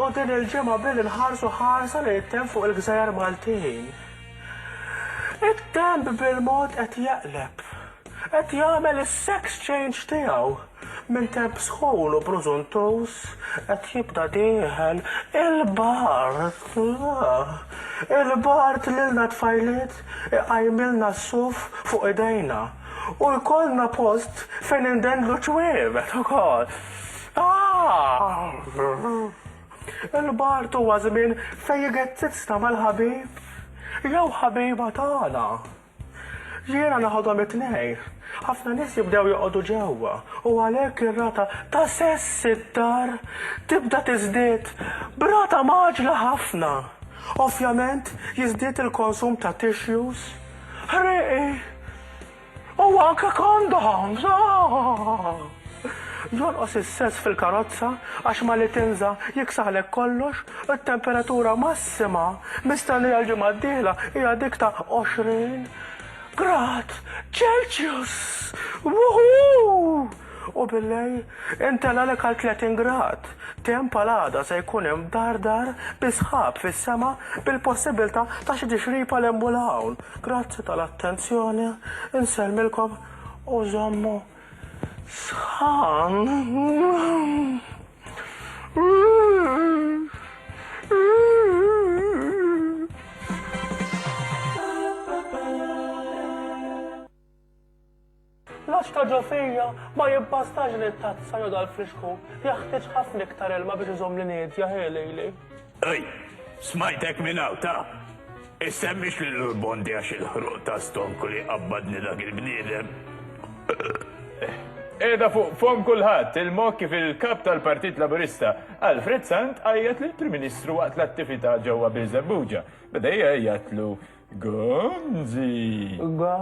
u din il-ġemma bil il-ħarsu ħarsa li jittem fuq il-gżajar Maltin. It-temp bil-mod qed jaqleb. Qed jagħmel is-sex change tiegħu minn temp sħun u brużuntuż qed jibda dieħel il-bart. Il-bart lilna tfajliet iqajmilna s-suf fuq idejna u jkollna post fejn indendlu ċwievet ukoll. Il-bart huwa żmien fejn jgezzizna mal-ħabib jew ħabiba tagħna. Jiena noħodhom it-tnejn. Ħafna nies jibdew joqogħdu ġewwa u għalhekk ir-rata ta' sess id-dar tibda tiżdied b'rata mgħaġġla ħafna. Ovvjament jiżdied il-konsum ta' tissues, ħrieqi u anke condoms. Jonqos is-sess fil-karozza għax mal-itinża jiksaħlek kollox u t-temperatura massima Sema, bista li għall-ġimgħa d-dieħla hija dik ta' 20 grad Celcius! Wuhuu! U billejl intellgħalek għal 30 grad. Temp għal għada se jkun hemm dardar bi sħab fis-sema bil-possibbiltà ta' xi tixrib għal hemm u 'l hawn. Grazzi tal-attenzjoni, insellmilkom u żommu sħan. L-għax ta' ġo fija ma jibbastax li t-tazza jew dal-frixku, jaħtieġ ħafna iktar ilma biex iżomm l-inedja, ħe lejli. Ej, smajtek minn hawn, ta! Issemmix lil Urbondi għax il-ħruq ta' stonku li qabbadni dak il-bniedem. Qiegħda fuq fomm kulħadd, il-moħħ kif il-Kap tal-Partit Laburista, Alfred Sant għajjat lill-Prim Ministru waqt l-attività ġewwa Birżebbuġa. Beda jgħajjatlu, Gonzi!